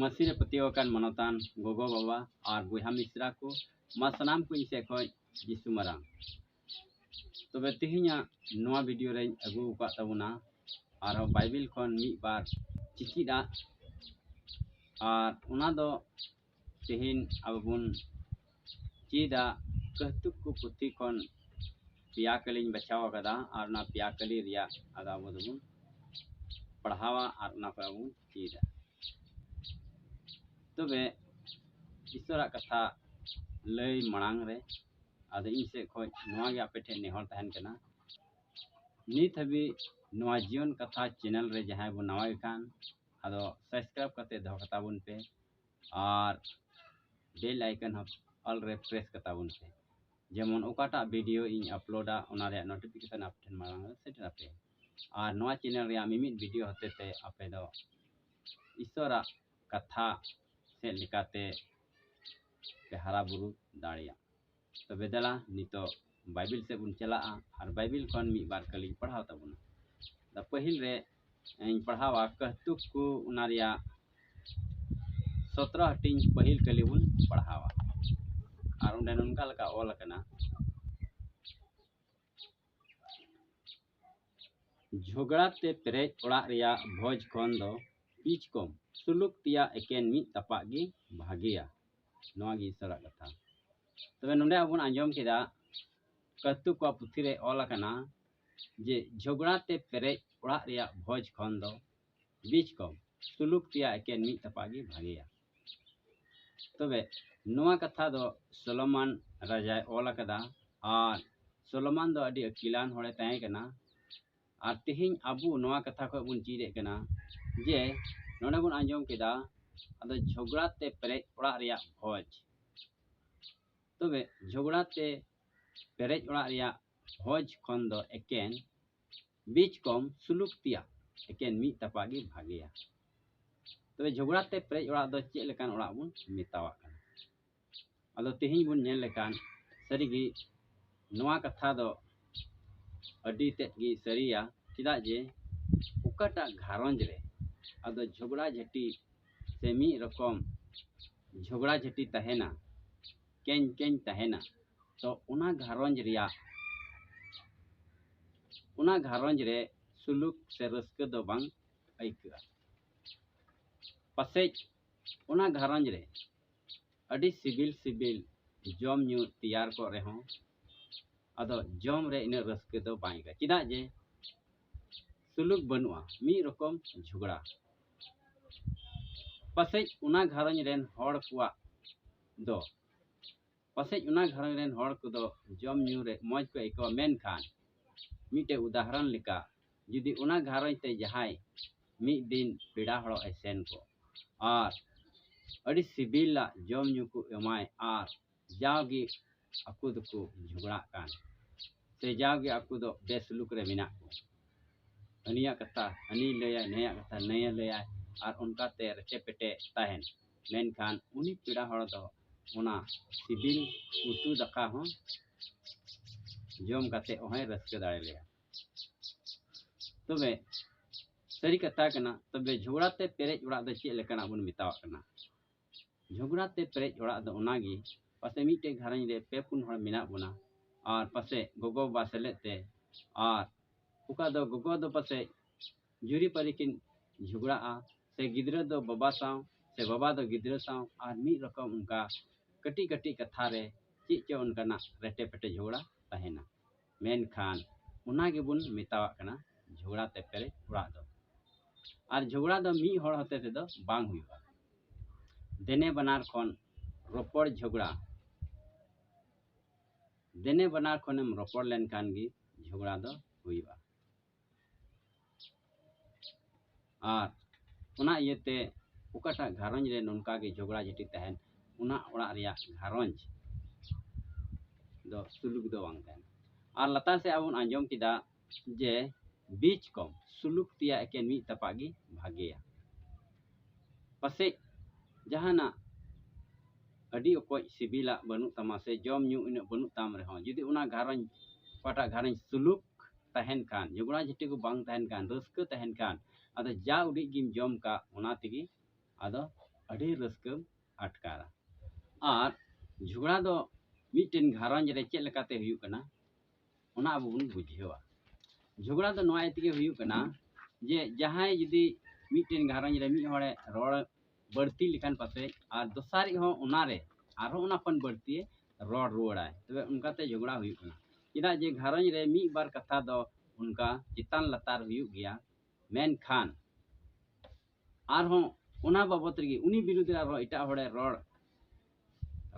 ᱢᱟᱹᱥᱤ ᱨᱮ ᱯᱟᱹᱛᱭᱟᱹᱣ ᱟᱠᱟᱱ ᱢᱟᱱᱚᱛᱟᱱ ᱜᱚᱜᱚ ᱵᱟᱵᱟ ᱟᱨ ᱵᱚᱭᱦᱟ ᱢᱤᱥᱨᱟ ᱠᱚ ᱢᱟ ᱥᱟᱱᱟᱢ ᱠᱚ ᱤᱧ ᱥᱮᱫ ᱠᱷᱚᱱ ᱡᱤᱥᱩ ᱢᱟᱨᱟᱝ ᱛᱚᱵᱮ ᱛᱮᱦᱮᱧᱟᱜ ᱱᱚᱣᱟ ᱵᱷᱤᱰᱤᱭᱳ ᱨᱮᱧ ᱟᱹᱜᱩ ᱟᱠᱟᱫ ᱛᱟᱵᱚᱱᱟ ᱟᱨᱦᱚᱸ ᱵᱟᱭᱵᱮᱞ ᱠᱷᱚᱱ ᱢᱤᱫ ᱵᱟᱨ ᱪᱤᱠᱤᱫ ᱟᱜ ᱟᱨ ᱚᱱᱟ ᱫᱚ ᱛᱮᱦᱮᱧ ᱟᱵᱚ ᱵᱚᱱ ᱪᱮᱫᱟᱜ ᱠᱟᱹᱣᱛᱩᱠ ᱠᱚ ᱯᱩᱛᱷᱤ ᱠᱷᱚᱱ ᱯᱮᱭᱟ ᱠᱟᱹᱞᱤᱧ ᱵᱟᱪᱷᱟᱣ ᱟᱠᱟᱫᱟ ᱟᱨ ᱚᱱᱟ ᱯᱮᱭᱟ ᱠᱟᱹᱞᱤ ᱨᱮᱭᱟᱜ ᱟᱫᱚ ᱟᱵᱚ ᱫᱚᱵᱚᱱ ᱯᱟᱲᱦᱟᱣᱟ ᱟᱨ ᱚᱱᱟ ᱠᱚ ᱟᱵᱚ ᱪᱮᱫᱟ ᱛᱚᱵᱮ ᱤᱥᱚᱨᱟᱜ ᱠᱟᱛᱷᱟ ᱞᱟᱹᱭ ᱢᱟᱲᱟᱝ ᱨᱮ ᱟᱫᱚ ᱤᱧ ᱥᱮᱫ ᱠᱷᱚᱱ ᱱᱚᱣᱟ ᱜᱮ ᱟᱯᱮ ᱴᱷᱮᱱ ᱱᱮᱦᱚᱨ ᱛᱟᱦᱮᱱ ᱠᱟᱱᱟ ᱱᱤᱛ ᱦᱟᱹᱵᱤᱡ ᱱᱚᱣᱟ ᱡᱤᱭᱚᱱ ᱠᱟᱛᱷᱟ ᱪᱮᱱᱮᱞ ᱨᱮ ᱡᱟᱦᱟᱸᱭ ᱵᱚᱱ ᱱᱟᱣᱟᱭ ᱠᱟᱱ ᱟᱫᱚ ᱥᱟᱵᱥᱠᱨᱟᱭᱤᱵ ᱠᱟᱛᱮ ᱫᱚᱦᱚ ᱠᱟᱛᱟ ᱵᱚᱱ ᱯᱮ ᱟᱨ ᱵᱮᱞ ᱟᱭᱠᱚᱱ ᱦᱚᱸ ᱚᱞ ᱨᱮ ᱯᱨᱮᱥ ᱠᱟᱛᱟ ᱵᱚᱱ ᱯᱮ ᱡᱮᱢᱚᱱ ᱚᱠᱟᱴᱟᱜ ᱵᱷᱤᱰᱤᱭᱳ ᱤᱧ ᱟᱯᱞᱳᱰᱟ ᱚᱱᱟ ᱨᱮᱭᱟᱜ ᱱᱳᱴᱤᱯᱷᱤᱠᱮᱥᱚᱱ ᱟᱯᱮ ᱴᱷᱮᱱ ᱢᱟᱲᱟᱝ ᱨᱮ ᱥᱮᱴᱮᱨ ᱟᱯᱮ ᱟᱨ ᱱᱚᱣᱟ ᱪᱮᱱᱮᱞ ᱨᱮᱭᱟᱜ ᱢᱤᱢᱤᱫ ᱵᱷᱤᱰᱤᱭᱳ ᱦᱚᱛᱮ ᱛᱮ ᱟᱯᱮ ᱫᱚ ᱤᱥᱚᱨᱟᱜ ᱠᱟᱛᱷᱟ ᱥᱮᱫ ᱞᱮᱠᱟᱛᱮ ᱯᱮ ᱦᱟᱨᱟ ᱵᱩᱨᱩ ᱫᱟᱲᱮᱭᱟᱜᱼᱟ ᱛᱚᱵᱮ ᱫᱮᱞᱟ ᱱᱤᱛᱚᱜ ᱵᱟᱭᱵᱤᱞ ᱥᱮᱫ ᱵᱚᱱ ᱪᱟᱞᱟᱜᱼᱟ ᱟᱨ ᱵᱟᱭᱵᱤᱞ ᱠᱷᱚᱱ ᱢᱤᱫ ᱵᱟᱨ ᱠᱟᱹᱞᱤᱧ ᱯᱟᱲᱦᱟᱣ ᱛᱟᱵᱚᱱᱟ ᱫᱟ ᱯᱟᱹᱦᱤᱞ ᱨᱮ ᱤᱧ ᱯᱟᱲᱦᱟᱣᱟ ᱠᱟᱹᱦᱛᱩᱠ ᱠᱚ ᱚᱱᱟ ᱨᱮᱭᱟᱜ ᱥᱚᱛᱨᱚ ᱦᱟᱹᱴᱤᱧ ᱯᱟᱹᱦᱤᱞ ᱠᱟᱹᱞᱤ ᱵᱚᱱ ᱯᱟᱲᱦᱟᱣᱟ ᱟᱨ ᱚᱸᱰᱮ ᱱᱚᱝᱠᱟ ᱞᱮᱠᱟ ᱚᱞ ᱟᱠᱟᱱᱟ ᱡᱷᱚᱜᱽᱲᱟ ᱛᱮ ᱯᱮᱨᱮᱡ ᱚᱲᱟᱜ ᱨᱮᱭᱟᱜ ᱵᱷᱚᱡᱽ ᱠᱷᱚᱱ ᱫᱚ ᱯᱤᱪ ᱠᱚᱢ ᱥᱩᱞᱩᱠ ᱛᱮᱭᱟᱜ ᱮᱠᱮᱱ ᱢᱤᱫ ᱛᱟᱯᱟᱜ ᱜᱮ ᱵᱷᱟᱜᱮᱭᱟ ᱱᱚᱣᱟ ᱜᱮ ᱤᱥᱚᱨᱟᱜ ᱠᱟᱛᱷᱟ ᱛᱚᱵᱮ ᱱᱚᱰᱮ ᱟᱵᱚ ᱵᱚᱱ ᱟᱸᱡᱚᱢ ᱠᱮᱫᱟ ᱠᱟᱹᱛᱩ ᱠᱚᱣᱟᱜ ᱯᱩᱛᱷᱤ ᱨᱮ ᱚᱞ ᱟᱠᱟᱱᱟ ᱡᱮ ᱡᱷᱚᱜᱽᱲᱟ ᱛᱮ ᱯᱮᱨᱮᱡ ᱚᱲᱟᱜ ᱨᱮᱭᱟᱜ ᱵᱷᱚᱡᱽ ᱠᱷᱚᱱ ᱫᱚ ᱵᱤᱪ ᱠᱚᱢ ᱛᱩᱞᱩᱠ ᱛᱮᱭᱟ ᱮᱠᱮᱱ ᱢᱤᱫ ᱛᱟᱯᱟ ᱜᱮ ᱵᱷᱟᱜᱮᱭᱟ ᱛᱚᱵᱮ ᱱᱚᱣᱟ ᱠᱟᱛᱷᱟ ᱫᱚ ᱥᱚᱞᱚᱢᱟᱱ ᱨᱟᱡᱟᱭ ᱚᱞ ᱟᱠᱟᱫᱟ ᱟᱨ ᱥᱚᱞᱚᱢᱟᱱ ᱫᱚ ᱟᱹᱰᱤ ᱟᱹᱠᱤᱞᱟᱱ ᱦᱚᱲᱮ ᱛᱟᱦᱮᱸ ᱠᱟᱱᱟ ᱟᱨ ᱛᱮᱦᱮᱧ ᱟᱵᱚ ᱱᱚᱣᱟ ᱠᱟᱛᱷᱟ ᱠᱷᱚᱱ ᱵᱚᱱ ᱪᱮᱫᱮᱫ ᱠᱟᱱᱟ ᱡᱮ ᱱᱚᱰᱮ ᱵᱚᱱ ᱟᱸᱡᱚᱢ ᱠᱮᱫᱟ ᱟᱫᱚ ᱡᱷᱚᱜᱽᱲᱟ ᱛᱮ ᱯᱮᱨᱮᱡ ᱚᱲᱟᱜ ᱨᱮᱭᱟᱜ ᱵᱷᱚᱡᱽ ᱛᱚᱵᱮ ᱡᱷᱚᱜᱽᱲᱟ ᱛᱮ ᱯᱮᱨᱮᱡ ᱚᱲᱟᱜ ᱨᱮᱭᱟᱜ ᱵᱷᱚᱡᱽ ᱠᱷᱚᱱ ᱫᱚ ᱮᱠᱮᱱ ᱵᱤᱪ ᱠᱚᱢ ᱥᱩᱞᱩᱠ ᱛᱮᱭᱟᱜ ᱮᱠᱮᱱ ᱢᱤᱫ ᱛᱟᱯᱟ ᱜᱮ ᱵᱷᱟᱜᱮᱭᱟ ᱛᱚᱵᱮ ᱡᱷᱚᱜᱽᱲᱟ ᱛᱮ ᱯᱮᱨᱮᱡ ᱚᱲᱟᱜ ᱫᱚ ᱪᱮᱫ ᱞᱮᱠᱟᱱ ᱚᱲᱟᱜ ᱵᱚᱱ ᱢᱮᱛᱟᱣᱟᱜ ᱠᱟᱱᱟ ᱟᱫᱚ ᱛᱮᱦᱮᱧ ᱵᱚᱱ ᱧᱮᱞ ᱞᱮᱠᱷᱟᱱ ᱥᱟᱹᱨᱤᱜᱮ ᱱᱚᱣᱟ ᱠᱟᱛᱷᱟ ᱫᱚ ᱟᱹᱰᱤ ᱛᱮᱫ ᱜᱮ ᱥᱟᱹᱨᱤᱭᱟ ᱪᱮᱫᱟᱜ ᱡᱮ ᱚᱠᱟᱴᱟᱜ ᱜᱷᱟᱨᱚᱸᱡᱽ ᱨᱮ ᱟᱫᱚ ᱡᱷᱚᱜᱽᱲᱟ ᱡᱷᱟᱹᱴᱤ ᱥᱮ ᱢᱤᱫ ᱨᱚᱠᱚᱢ ᱡᱷᱚᱜᱽᱲᱟ ᱡᱷᱟᱹᱴᱤ ᱛᱟᱦᱮᱱᱟ ᱠᱮᱧ ᱠᱮᱧ ᱛᱟᱦᱮᱱᱟ ᱛᱚ ᱚᱱᱟ ᱜᱷᱟᱨᱚᱸᱡᱽ ᱨᱮᱭᱟᱜ ᱚᱱᱟ ᱜᱷᱟᱨᱚᱸᱡᱽ ᱨᱮ ᱥᱩᱞᱩᱠ ᱥᱮ ᱨᱟᱹᱥᱠᱟᱹ ᱫᱚ ᱵᱟᱝ ᱟᱹᱭᱠᱟᱹᱜᱼᱟ ᱯᱟᱥᱮᱡ ᱚᱱᱟ ᱜᱷᱟᱨᱚᱸᱡᱽ ᱨᱮ ᱟᱹᱰᱤ ᱥᱤᱵᱤᱞ ᱥᱤᱵᱤᱞ ᱡᱚᱢ ᱧᱩ ᱛᱮᱭᱟᱨ ᱠᱚᱜ ᱨᱮᱦᱚᱸ ᱟᱫᱚ ᱡᱚᱢ ᱨᱮ ᱤᱱᱟᱹᱜ ᱨᱟᱹᱥᱠᱟᱹ ᱫᱚ ᱵᱟᱝ ᱟᱹᱭᱠᱟᱹᱜᱼᱟ ᱪᱮᱫᱟᱜ ᱡᱮ ᱥᱩᱞᱩᱠ ᱵᱟᱹᱱᱩᱜᱼᱟ ᱢᱤᱫ ᱨᱚᱠᱚᱢ ᱡᱷᱚᱜᱽᱲᱟ ᱯᱟᱥᱮᱡ ᱚᱱᱟ ᱜᱷᱟᱨᱚᱸᱡᱽ ᱨᱮᱱ ᱦᱚᱲ ᱠᱚᱣᱟᱜ ᱫᱚ ᱯᱟᱥᱮᱡ ᱚᱱᱟ ᱜᱷᱟᱨᱚᱸᱡᱽ ᱨᱮᱱ ᱦᱚᱲ ᱠᱚᱫᱚ ᱡᱚᱢ ᱧᱩ ᱨᱮ ᱢᱚᱡᱽ ᱠᱚ ᱟᱹᱭᱠᱟᱹᱣᱟ ᱢᱮᱱᱠᱷᱟᱱ ᱢᱤᱫᱴᱮᱡ ᱩᱫᱟᱦᱚᱨᱚᱱ ᱞᱮᱠᱟ ᱡᱩᱫᱤ ᱚᱱᱟ ᱜᱷᱟᱨᱚᱸᱡᱽ ᱛᱮ ᱡᱟᱦᱟᱸᱭ ᱢᱤᱫ ᱫᱤᱱ ᱯᱮᱲᱟ ᱦᱚᱲᱚᱜ ᱮ ᱥᱮᱱ ᱠᱚᱜ ᱟᱨ ᱟᱹᱰᱤ ᱥᱤᱵᱤᱞᱟᱜ ᱡᱚᱢ ᱧᱩ ᱠᱚ ᱮᱢᱟᱭ ᱟᱨ ᱡᱟᱣᱜᱮ ᱟᱠᱚ ᱫᱚᱠᱚ ᱡᱷᱚᱜᱽᱲᱟᱜ ᱠᱟᱱ ᱥᱮ ᱡᱟᱣᱜᱮ ᱟᱠᱚ ᱫᱚ ᱵᱮᱥᱞᱩᱠ ᱨᱮ ᱢᱮᱱᱟᱜ ᱠᱚ ᱦᱟᱹᱱᱤᱭᱟᱜ ᱠᱟᱛᱷᱟ ᱦᱟᱹᱱᱤᱭ ᱞᱟᱹᱭᱟ ᱱᱟᱹᱭᱟᱜ ᱠᱟᱛᱷᱟ ᱱᱟᱹᱭᱮ ᱞᱟᱹᱭᱟ ᱟᱨ ᱚᱱᱠᱟᱛᱮ ᱨᱮᱪᱮ ᱯᱮᱴᱮ ᱛᱟᱦᱮᱱ ᱢᱮᱱᱠᱷᱟᱱ ᱩᱱᱤ ᱯᱮᱲᱟ ᱦᱚᱲ ᱫᱚ ᱚᱱᱟ ᱥᱤᱵᱤᱞ ᱩᱛᱩ ᱫᱟᱠᱟ ᱦᱚᱸ ᱡᱚᱢ ᱠᱟᱛᱮ ᱦᱚᱸᱭ ᱨᱟᱹᱥᱠᱟᱹ ᱫᱟᱲᱮ ᱞᱮᱭᱟ ᱛᱚᱵᱮ ᱥᱟᱹᱨᱤ ᱠᱟᱛᱷᱟ ᱠᱟᱱᱟ ᱛᱚᱵᱮ ᱡᱷᱚᱜᱽᱲᱟ ᱛᱮ ᱯᱮᱨᱮᱡ ᱚᱲᱟᱜ ᱫᱚ ᱪᱮᱫ ᱞᱮᱠᱟᱱᱟᱜ ᱵᱚᱱ ᱢᱮᱛᱟᱣᱟᱜ ᱠᱟᱱᱟ ᱡᱷᱚᱜᱽᱲᱟ ᱛᱮ ᱯᱮᱨᱮᱡ ᱚᱲᱟᱜ ᱫᱚ ᱚᱱᱟᱜᱮ ᱯᱟᱥᱮ ᱢᱤᱫᱴᱮᱡ ᱜᱷᱟᱨᱚᱸᱡᱽ ᱨᱮ ᱯᱮ ᱯᱩᱱ ᱦᱚᱲ ᱢᱮᱱᱟᱜ ᱵᱚᱱᱟ ᱟᱨ ᱯᱟᱥᱮ ᱜᱚᱜᱚ ᱵᱟᱵᱟ ᱥᱮᱞᱮᱫ ᱛᱮ ᱟᱨ ᱚᱠᱟ ᱫᱚ ᱜᱚᱜᱚ ᱫᱚ ᱯᱟᱥᱮ ᱡᱩᱨᱤᱯᱟᱹᱨᱤ ᱠᱤᱱ ᱡᱷᱚᱜᱽᱲᱟᱜᱼᱟ ᱥᱮ ᱜᱤᱫᱽᱨᱟᱹ ᱫᱚ ᱵᱟᱵᱟ ᱥᱟᱶ ᱥᱮ ᱵᱟᱵᱟ ᱫᱚ ᱜᱤᱫᱽᱨᱟᱹ ᱥᱟᱶ ᱟᱨ ᱢᱤᱫ ᱨᱚᱠᱚᱢ ᱚᱱᱠᱟ ᱠᱟᱹᱴᱤᱡ ᱠᱟᱹᱴᱤᱡ ᱠᱟᱛᱷᱟ ᱨᱮ ᱪᱮᱫ ᱪᱚ ᱚᱱᱠᱟᱱᱟᱜ ᱨᱮᱴᱮ ᱯᱮᱴᱮ ᱡᱷᱚᱜᱽᱲᱟ ᱛᱟᱦᱮᱱᱟ ᱢᱮᱱᱠᱷᱟᱱ ᱚᱱᱟ ᱜᱮᱵᱚᱱ ᱢᱮᱛᱟᱣᱟᱜ ᱠᱟᱱᱟ ᱡᱷᱚᱜᱽᱲᱟ ᱛᱮ ᱯᱮᱨᱮᱡ ᱚᱲᱟᱜ ᱫᱚ ᱟᱨ ᱡᱷᱚᱜᱽᱲᱟ ᱫᱚ ᱢᱤᱫ ᱦᱚᱲ ᱦᱚᱛᱮ ᱛᱮᱫᱚ ᱵᱟᱝ ᱦᱩᱭᱩᱜᱼᱟ ᱫᱮᱱᱮ ᱵᱟᱱᱟᱨ ᱠᱷᱚᱱ ᱨᱚᱯᱚᱲ ᱡᱷᱚᱜᱽᱲᱟ ᱫᱮᱱᱮ ᱵᱟᱱᱟᱨ ᱠᱷᱚᱱᱮᱢ ᱨᱚᱯᱚᱲ ᱞᱮᱱᱠᱷᱟᱱ ᱜᱮ ᱡᱷᱚᱜᱽᱲᱟ ᱫᱚ ᱦᱩᱭᱩᱜᱼᱟ ᱟᱨ ᱚᱱᱟ ᱤᱭᱟᱹᱛᱮ ᱚᱠᱟᱴᱟᱜ ᱜᱷᱟᱨᱚᱸᱡᱽ ᱨᱮ ᱱᱚᱝᱠᱟ ᱜᱮ ᱡᱷᱚᱜᱽᱲᱟ ᱡᱷᱟᱹᱴᱤ ᱛᱟᱦᱮᱱ ᱚᱱᱟ ᱚᱲᱟᱜ ᱨᱮᱭᱟᱜ ᱜᱷᱟᱨᱚᱸᱡᱽ ᱫᱚ ᱥᱩᱞᱩᱠ ᱫᱚ ᱵᱟᱝ ᱛᱟᱦᱮᱱᱟ ᱟᱨ ᱞᱟᱛᱟᱨ ᱥᱮᱫ ᱟᱵᱚ ᱵᱚᱱ ᱟᱸᱡᱚᱢ ᱠᱮᱫᱟ ᱡᱮ ᱵᱤᱪ ᱠᱚᱢ ᱥᱩᱞᱩᱠ ᱛᱮᱭᱟᱜ ᱮᱠᱮᱱ ᱢᱤᱫ ᱛᱟᱯᱟᱜ ᱜᱮ ᱵᱷᱟᱜᱮᱭᱟ ᱯᱟᱥᱮᱡ ᱡᱟᱦᱟᱱᱟᱜ ᱟᱹᱰᱤ ᱚᱠᱚᱡ ᱥᱤᱵᱤᱞᱟᱜ ᱵᱟᱹᱱᱩᱜ ᱛᱟᱢᱟ ᱥᱮ ᱡᱚᱢ ᱧᱩ ᱩᱱᱟᱹᱜ ᱵᱟᱹᱱᱩᱜ ᱛᱟᱢ ᱨᱮᱦᱚᱸ ᱡᱩᱫᱤ ᱚᱱᱟ ᱜᱷᱟᱨᱚᱸᱡᱽ ᱚᱠᱟᱴᱟᱜ ᱜᱷᱟᱨᱚᱸᱡᱽ ᱥᱩᱞᱩᱠ ᱛᱟᱦᱮᱱ ᱠᱷᱟᱱ ᱡᱚᱜᱽᱲᱟ ᱡᱷᱟᱹᱴᱤ ᱠᱚ ᱵᱟᱝ ᱛᱟᱦᱮᱱ ᱠᱷᱟᱱ ᱨᱟᱹᱥᱠᱟᱹ ᱛᱟᱦᱮᱱ ᱠᱷᱟᱱ ᱟᱫᱚ ᱡᱟ ᱩᱰᱤᱡ ᱜᱮᱢ ᱡᱚᱢ ᱠᱟᱜ ᱚᱱᱟ ᱛᱮᱜᱮ ᱟᱫᱚ ᱟᱹᱰᱤ ᱨᱟᱹᱥᱠᱟᱹᱢ ᱟᱴᱠᱟᱨᱟ ᱟᱨ ᱡᱷᱚᱜᱽᱲᱟ ᱫᱚ ᱢᱤᱫᱴᱮᱱ ᱜᱷᱟᱨᱚᱸᱡᱽ ᱨᱮ ᱪᱮᱫ ᱞᱮᱠᱟᱛᱮ ᱦᱩᱭᱩᱜ ᱠᱟᱱᱟ ᱚᱱᱟ ᱟᱵᱚ ᱵᱚᱱ ᱵᱩᱡᱷᱟᱹᱣᱟ ᱡᱷᱚᱜᱽᱲᱟ ᱫᱚ ᱱᱚᱣᱟ ᱤᱭᱟᱹ ᱛᱮᱜᱮ ᱦᱩᱭᱩᱜ ᱠᱟᱱᱟ ᱡᱮ ᱡᱟᱦᱟᱸᱭ ᱡᱩᱫᱤ ᱢᱤᱫᱴᱮᱱ ᱜᱷᱟᱨᱚᱸᱡᱽ ᱨᱮ ᱢᱤᱫ ᱦᱚᱲᱮ ᱨᱚᱲ ᱵᱟᱹᱲᱛᱤ ᱞᱮᱠᱷᱟᱱ ᱯᱟᱥᱮᱡ ᱟᱨ ᱫᱚᱥᱟᱨᱤᱡ ᱦᱚᱸ ᱚᱱᱟᱨᱮ ᱟᱨᱦᱚᱸ ᱚᱱᱟ ᱠᱷᱚᱱ ᱵᱟᱹᱲᱛᱤ ᱨᱚᱲ ᱨᱩᱣᱟᱹᱲᱟᱭ ᱛᱚᱵᱮ ᱚᱱᱠᱟᱛᱮ ᱡᱷᱚᱜᱽᱲᱟ ᱦᱩᱭᱩᱜ ᱠᱟᱱᱟ ᱪᱮᱫᱟᱜ ᱡᱮ ᱜᱷᱟᱨᱚᱸᱡᱽ ᱨᱮ ᱢᱤᱫ ᱵᱟᱨ ᱠᱟᱛᱷᱟ ᱫᱚ ᱚᱱᱠᱟ ᱪᱮᱛᱟᱱ ᱞᱟᱛᱟᱨ ᱦᱩᱭᱩᱜ ᱜᱮᱭᱟ ᱢᱮᱱᱠᱷᱟᱱ ᱟᱨᱦᱚᱸ ᱚᱱᱟ ᱵᱟᱵᱚᱛ ᱨᱮᱜᱮ ᱩᱱᱤ ᱵᱤᱨᱩᱫᱽ ᱨᱮ ᱟᱨᱦᱚᱸ ᱮᱴᱟᱜ ᱦᱚᱲᱮ ᱨᱚᱲ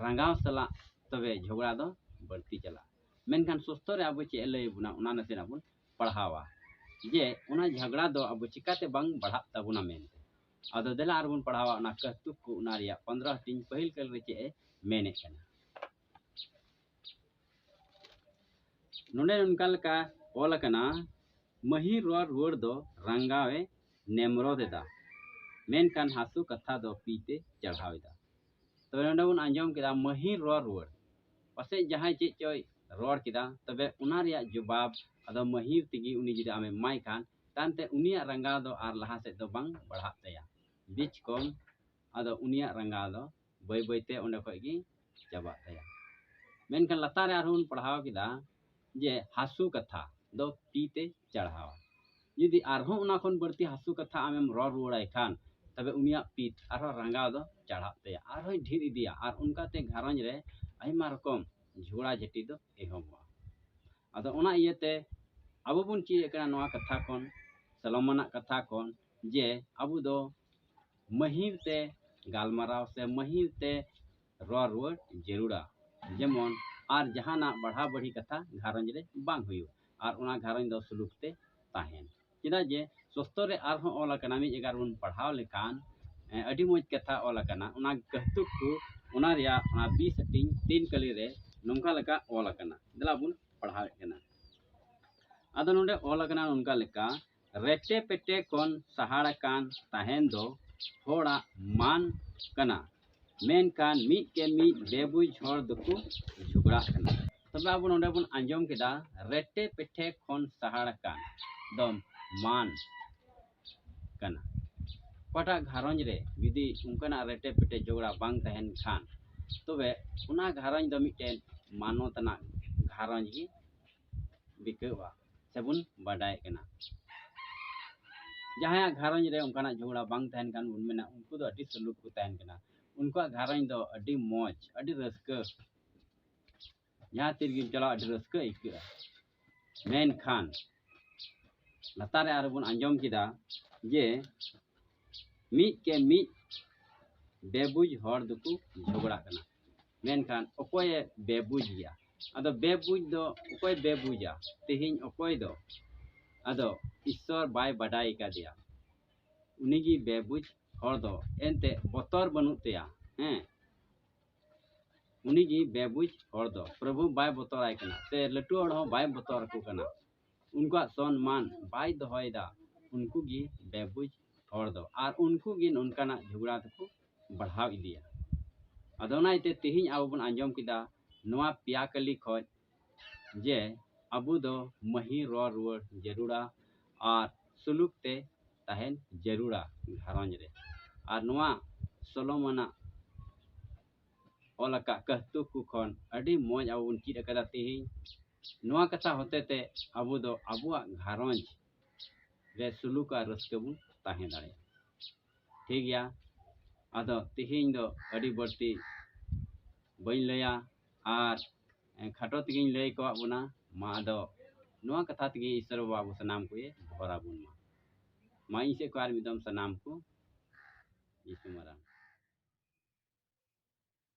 ᱨᱟᱸᱜᱟᱣ ᱥᱟᱞᱟᱜ ᱛᱚᱵᱮ ᱡᱷᱚᱜᱽᱲᱟ ᱫᱚ ᱵᱟᱹᱲᱛᱤ ᱪᱟᱞᱟᱜᱼᱟ ᱢᱮᱱᱠᱷᱟᱱ ᱥᱚᱥᱛᱚ ᱨᱮ ᱟᱵᱚ ᱪᱮᱫ ᱮ ᱞᱟᱹᱭ ᱟᱵᱚᱱᱟ ᱚᱱᱟ ᱱᱟᱥᱮᱱᱟᱜ ᱵᱚᱱ ᱯᱟᱲᱦᱟᱣᱟ ᱡᱮ ᱚᱱᱟ ᱡᱷᱚᱜᱽᱲᱟ ᱫᱚ ᱟᱵᱚ ᱪᱤᱠᱟᱹᱛᱮ ᱵᱟᱝ ᱵᱟᱲᱦᱟᱜ ᱛᱟᱵᱚᱱᱟ ᱢᱮᱱᱛᱮ ᱟᱫᱚ ᱫᱮᱞᱟ ᱟᱨᱵᱚᱱ ᱯᱟᱲᱦᱟᱣᱟ ᱚᱱᱟ ᱠᱟᱹᱦᱛᱩᱠ ᱠᱚ ᱚᱱᱟ ᱨᱮᱭᱟᱜ ᱯᱚᱱᱫᱨᱚ ᱦᱟᱹᱴᱤᱧ ᱯᱟᱹᱦᱤᱞ ᱠᱟᱹᱞ ᱨᱮ ᱪᱮᱫ ᱮ ᱢᱮᱱᱮᱫ ᱠᱟᱱᱟ ᱱᱚᱰᱮ ᱚᱱᱠᱟ ᱞᱮᱠᱟ ᱚᱞ ᱟᱠᱟᱱᱟ ᱢᱟᱹᱦᱤᱨ ᱨᱚᱲ ᱨᱩᱣᱟᱹᱲ ᱫᱚ ᱨᱟᱝᱜᱟᱣ ᱮ ᱱᱮᱢᱨᱚᱫ ᱮᱫᱟ ᱢᱮᱱᱠᱷᱟᱱ ᱦᱟᱹᱥᱩ ᱠᱟᱛᱷᱟ ᱫᱚ ᱯᱤ ᱛᱮ ᱪᱟᱲᱦᱟᱣ ᱮᱫᱟ ᱛᱚᱵᱮ ᱱᱚᱰᱮ ᱵᱚᱱ ᱟᱸᱡᱚᱢ ᱠᱮᱫᱟ ᱢᱟᱹᱦᱤᱨ ᱨᱚᱲ ᱨᱩᱣᱟᱹᱲ ᱯᱟᱥᱮᱡ ᱡᱟᱦᱟᱸᱭ ᱪᱮᱫ ᱪᱚᱭ ᱨᱚᱲ ᱠᱮᱫᱟ ᱛᱚᱵᱮ ᱚᱱᱟ ᱨᱮᱭᱟᱜ ᱡᱚᱵᱟᱵ ᱟᱫᱚ ᱢᱟᱹᱦᱤᱨ ᱛᱮᱜᱮ ᱩᱱᱤ ᱡᱩᱫᱤ ᱟᱢᱮ ᱮᱢᱟᱭ ᱠᱷᱟᱱ ᱛᱟᱭᱚᱢᱛᱮ ᱩᱱᱤᱭᱟᱜ ᱨᱟᱸᱜᱟᱣ ᱫᱚ ᱟᱨ ᱞᱟᱦᱟ ᱥᱮᱫ ᱫᱚ ᱵᱟᱝ ᱵᱟᱲᱦᱟᱜ ᱛᱟᱭᱟ ᱵᱤᱪ ᱠᱚᱢ ᱟᱫᱚ ᱩᱱᱤᱭᱟᱜ ᱨᱟᱸᱜᱟᱣ ᱫᱚ ᱵᱟᱹᱭ ᱵᱟᱹᱭᱛᱮ ᱚᱸᱰᱮ ᱠᱷᱚᱡ ᱜᱮ ᱪᱟᱵᱟᱜ ᱛᱟᱭᱟ ᱢᱮᱱᱠᱷᱟᱱ ᱞᱟᱛᱟᱨ ᱨᱮ ᱟᱨᱦᱚᱸ ᱵᱚᱱ ᱯᱟᱲᱦᱟᱣ ᱠᱮᱫᱟ ᱡᱮ ᱦᱟᱹᱥᱩ ᱠᱟᱛᱷᱟ ᱫᱚ ᱛᱤ ᱛᱮ ᱪᱟᱲᱦᱟᱣᱟ ᱡᱩᱫᱤ ᱟᱨᱦᱚᱸ ᱚᱱᱟ ᱠᱷᱚᱱ ᱵᱟᱹᱲᱛᱤ ᱦᱟᱹᱥᱩ ᱠᱟᱛᱷᱟ ᱟᱢᱮᱢ ᱨᱚᱲ ᱨᱩᱣᱟᱹᱲᱟᱭ ᱠᱷᱟᱱ ᱛᱚᱵᱮ ᱩᱱᱤᱭᱟᱜ ᱯᱤᱛ ᱟᱨᱦᱚᱸ ᱨᱟᱸᱜᱟᱣ ᱫᱚ ᱪᱟᱲᱦᱟᱜ ᱛᱟᱭᱟ ᱟᱨᱦᱚᱸᱭ ᱰᱷᱮᱨ ᱤᱫᱤᱭᱟ ᱟᱨ ᱚᱱᱠᱟᱛᱮ ᱜᱷᱟᱨᱚᱸᱡᱽ ᱨᱮ ᱟᱭᱢᱟ ᱨᱚᱠᱚᱢ ᱡᱷᱚᱜᱽᱲᱟ ᱡᱷᱟᱹᱴᱤ ᱫᱚ ᱮᱦᱚᱵᱚᱜᱼᱟ ᱟᱫᱚ ᱚᱱᱟ ᱤᱭᱟᱹᱛᱮ ᱟᱵᱚ ᱵᱚᱱ ᱪᱮᱫ ᱮᱫ ᱠᱟᱱᱟ ᱱᱚᱣᱟ ᱠᱟᱛᱷᱟ ᱠᱷᱚᱱ ᱥᱟᱞᱚᱢᱟᱱᱟᱜ ᱠᱟᱛᱷᱟ ᱠᱷᱚᱱ ᱡᱮ ᱟᱵᱚ ᱫᱚ ᱢᱟᱹᱦᱤᱨ ᱛᱮ ᱜᱟᱞᱢᱟᱨᱟᱣ ᱥᱮ ᱢᱟᱹᱦᱤᱨ ᱛᱮ ᱨᱚᱲ ᱨᱩᱣᱟᱹᱲ ᱡᱟᱹᱨᱩᱲᱟ ᱡᱮᱢᱚᱱ ᱟᱨ ᱡᱟᱦᱟᱱᱟᱜ ᱵᱟᱲᱦᱟ ᱵᱟᱹᱲᱦᱤ ᱠᱟᱛᱷᱟ ᱜᱷᱟᱨᱚᱸᱡᱽ ᱨᱮ ᱵᱟᱝ ᱦᱩᱭᱩᱜ ᱟᱨ ᱚᱱᱟ ᱜᱷᱟᱨᱚᱸᱡᱽ ᱫᱚ ᱥᱩᱞᱩᱠ ᱛᱮ ᱛᱟᱦᱮᱱ ᱪᱮᱫᱟᱜ ᱡᱮ ᱥᱚᱥᱛᱚ ᱨᱮ ᱟᱨᱦᱚᱸ ᱚᱞ ᱟᱠᱟᱱᱟ ᱢᱤᱫ ᱡᱟᱭᱜᱟ ᱨᱮᱵᱚᱱ ᱯᱟᱲᱦᱟᱣ ᱞᱮᱠᱷᱟᱱ ᱟᱹᱰᱤ ᱢᱚᱡᱽ ᱠᱟᱛᱷᱟ ᱚᱞ ᱟᱠᱟᱱᱟ ᱚᱱᱟ ᱠᱟᱹᱦᱛᱩᱠ ᱠᱚ ᱚᱱᱟ ᱨᱮᱭᱟᱜ ᱚᱱᱟ ᱵᱤ ᱥᱮᱴᱤᱝ ᱛᱤᱱ ᱠᱟᱹᱞᱤ ᱨᱮ ᱱᱚᱝᱠᱟ ᱞᱮᱠᱟ ᱚᱞ ᱟᱠᱟᱱᱟ ᱫᱮᱞᱟ ᱵᱚᱱ ᱯᱟᱲᱦᱟᱣᱮᱫ ᱠᱟᱱᱟ ᱟᱫᱚ ᱱᱚᱰᱮ ᱚᱞ ᱟᱠᱟᱱᱟ ᱱᱚᱝᱠᱟ ᱞᱮᱠᱟ ᱨᱮᱴᱮ ᱯᱮᱴᱮ ᱠᱷᱚᱱ ᱥᱟᱦᱟᱲ ᱟᱠᱟᱱ ᱛᱟᱦᱮᱱ ᱫᱚ ᱦᱚᱲᱟᱜ ᱢᱟᱱ ᱠᱟᱱᱟ ᱢᱮᱱᱠᱷᱟᱱ ᱢᱤᱫ ᱠᱮ ᱢᱤᱫ ᱵᱮᱵᱩᱡᱽ ᱦᱚᱲ ᱫᱚᱠᱚ ᱡᱷᱚᱜᱽᱲᱟᱜ ᱠᱟᱱᱟ ᱛᱚᱵᱮ ᱟᱵᱚ ᱱᱚᱰᱮ ᱵᱚᱱ ᱟᱸᱡᱚᱢ ᱠᱮᱫᱟ ᱨᱮᱴᱮ ᱯᱮᱴᱷᱮ ᱠᱷᱚᱱ ᱥᱟᱦᱟᱲ ᱟᱠᱟᱱ ᱫᱚ ᱢᱟᱱ ᱠᱟᱱᱟ ᱚᱠᱟᱴᱟᱜ ᱜᱷᱟᱨᱚᱸᱡᱽ ᱨᱮ ᱡᱩᱫᱤ ᱚᱱᱠᱟᱱᱟᱜ ᱨᱮᱴᱮ ᱯᱮᱴᱮ ᱡᱷᱚᱜᱽᱲᱟ ᱵᱟᱝ ᱛᱟᱦᱮᱱ ᱠᱷᱟᱱ ᱛᱚᱵᱮ ᱚᱱᱟ ᱜᱷᱟᱨᱚᱸᱡᱽ ᱫᱚ ᱢᱤᱫᱴᱮᱱ ᱢᱟᱱᱚᱛ ᱟᱱᱟᱜ ᱜᱷᱟᱨᱚᱸᱡᱽ ᱜᱮ ᱵᱤᱛᱟᱹᱜᱼᱟ ᱥᱮᱵᱚᱱ ᱵᱟᱰᱟᱭᱮᱫ ᱠᱟᱱᱟ ᱡᱟᱦᱟᱸᱭᱟᱜ ᱜᱷᱟᱨᱚᱸᱡᱽ ᱨᱮ ᱚᱱᱠᱟᱱᱟᱜ ᱡᱷᱚᱜᱽᱲᱟ ᱵᱟᱝ ᱛᱟᱦᱮᱱ ᱠᱟᱱ ᱵᱚᱱ ᱢᱮᱱᱟ ᱩᱱᱠᱩ ᱫᱚ ᱟᱹᱰᱤ ᱥᱩᱞᱩᱠ ᱠᱚ ᱛᱟᱦᱮᱱ ᱠᱟᱱᱟ ᱩᱱᱠᱩᱣᱟᱜ ᱜᱷᱟᱨᱚᱸᱡᱽ ᱫᱚ ᱟᱹᱰᱤ ᱢᱚᱡᱽ ᱟᱹᱰᱤ ᱨᱟᱹᱥᱠᱟᱹ ᱡᱟᱦᱟᱸ ᱛᱤ ᱨᱮᱜᱮᱢ ᱪᱟᱞᱟᱜ ᱟᱹᱰᱤ ᱨᱟᱹᱥᱠᱟᱹ ᱟᱹᱭᱠᱟᱹᱜᱼᱟ ᱢᱮᱱᱠᱷᱟᱱ ᱞᱟᱛᱟᱨ ᱨᱮ ᱟᱨᱚ ᱵᱚᱱ ᱟᱸᱡᱚᱢ ᱠᱮᱫᱟ ᱡᱮ ᱢᱤᱫ ᱠᱮ ᱢᱤᱫ ᱵᱮᱵᱩᱡᱽ ᱦᱚᱲ ᱫᱚᱠᱚ ᱡᱷᱚᱜᱽᱲᱟᱜ ᱠᱟᱱᱟ ᱢᱮᱱᱠᱷᱟᱱ ᱚᱠᱚᱭᱮ ᱵᱮᱵᱩᱡᱽ ᱜᱮᱭᱟ ᱟᱫᱚ ᱵᱮᱵᱩᱡᱽ ᱫᱚ ᱚᱠᱚᱭ ᱵᱮᱵᱩᱡᱟ ᱛᱮᱦᱮᱧ ᱚᱠᱚᱭ ᱫᱚ ᱟᱫᱚ ᱤᱥᱥᱚᱨ ᱵᱟᱭ ᱵᱟᱰᱟᱭ ᱠᱟᱫᱮᱭᱟ ᱩᱱᱤᱜᱮ ᱵᱮᱵᱩᱡᱽ ᱦᱚᱲ ᱫᱚ ᱮᱱᱛᱮ ᱵᱚᱛᱚᱨ ᱵᱟᱹᱱᱩᱜ ᱛᱟᱭᱟ ᱦᱮᱸ ᱩᱱᱤᱜᱮ ᱵᱮᱵᱩᱡᱽ ᱦᱚᱲ ᱫᱚ ᱯᱨᱚᱵᱷᱩ ᱵᱟᱭ ᱵᱚᱛᱚᱨᱟᱭ ᱠᱟᱱᱟ ᱥᱮ ᱞᱟᱹᱴᱩ ᱦᱚᱲ ᱦᱚᱸ ᱵᱟᱭ ᱵᱚᱛᱚᱨ ᱟᱠᱚ ᱠᱟᱱᱟ ᱩᱱᱠᱩᱣᱟᱜ ᱥᱚᱱᱢᱟᱱ ᱵᱟᱭ ᱫᱚᱦᱚᱭᱮᱫᱟ ᱩᱱᱠᱩ ᱜᱮ ᱵᱮᱵᱩᱡᱽ ᱦᱚᱲ ᱫᱚ ᱟᱨ ᱩᱱᱠᱩ ᱜᱮ ᱱᱚᱝᱠᱟᱱᱟᱜ ᱡᱷᱚᱜᱽᱲᱟ ᱫᱚᱠᱚ ᱵᱟᱲᱦᱟᱣ ᱤᱫᱤᱭᱟ ᱟᱫᱚ ᱚᱱᱟ ᱤᱭᱟᱹᱛᱮ ᱛᱮᱦᱮᱧ ᱟᱵᱚ ᱵᱚᱱ ᱟᱸᱡᱚᱢ ᱠᱮᱫᱟ ᱱᱚᱣᱟ ᱯᱮᱭᱟ ᱠᱟᱹᱞᱤ ᱠᱷᱚᱡ ᱡᱮ ᱟᱵᱚ ᱫᱚ ᱢᱟᱹᱦᱤ ᱨᱚᱲ ᱨᱩᱣᱟᱹᱲ ᱡᱟᱹᱨᱩᱲᱟ ᱟᱨ ᱥᱩᱞᱩᱠ ᱛᱮ ᱛᱟᱦᱮᱱ ᱡᱟᱹᱨᱩᱲᱟ ᱜᱷᱟᱨᱚᱸᱡᱽ ᱨᱮ ᱟᱨ ᱱᱚᱣᱟ ᱥᱚᱞᱚᱢ ᱟᱱᱟᱜ ᱚᱞ ᱟᱠᱟᱫ ᱠᱟᱹᱦᱛᱩᱠ ᱠᱚ ᱠᱷᱚᱱ ᱟᱹᱰᱤ ᱢᱚᱡᱽ ᱟᱵᱚ ᱵᱚᱱ ᱪᱮᱫ ᱟᱠᱟᱫᱟ ᱛᱮᱦᱮᱧ ᱱᱚᱣᱟ ᱠᱟᱛᱷᱟ ᱦᱚᱛᱮᱛᱮ ᱟᱵᱚ ᱫᱚ ᱟᱵᱚᱣᱟᱜ ᱜᱷᱟᱨᱚᱸᱡᱽ ᱨᱮ ᱥᱩᱞᱩᱠ ᱟᱨ ᱨᱟᱹᱥᱠᱟᱹ ᱵᱚᱱ ᱛᱟᱦᱮᱸ ᱫᱟᱲᱮᱭᱟᱜᱼᱟ ᱴᱷᱤᱠ ᱜᱮᱭᱟ ᱟᱫᱚ ᱛᱮᱦᱮᱧ ᱫᱚ ᱟᱹᱰᱤ ᱵᱟᱹᱲᱛᱤ ᱵᱟᱹᱧ ᱞᱟᱹᱭᱟ ᱟᱨ ᱠᱷᱟᱴᱚ ᱛᱮᱜᱮᱧ ᱞᱟᱹᱭ ᱠᱚᱣᱟᱜ ᱵᱚᱱᱟ ᱢᱟ ᱟᱫᱚ ᱱᱚᱣᱟ ᱠᱟᱛᱷᱟ ᱛᱮᱜᱮ ᱤᱥᱚᱨ ᱵᱟᱵᱟ ᱟᱵᱚ ᱥᱟᱱᱟᱢ ᱠᱚᱭ ᱵᱷᱚᱨ ᱟᱵᱚᱱ ᱢᱟ ᱢᱟ ᱤᱧ ᱥᱮᱫ ᱠᱷᱚᱱ ᱟᱨ ᱢᱤᱫ ᱫᱚᱢ ᱥᱟᱱᱟᱢ ᱠᱚ ᱡᱤᱥᱩ ᱢᱟᱨᱟᱝ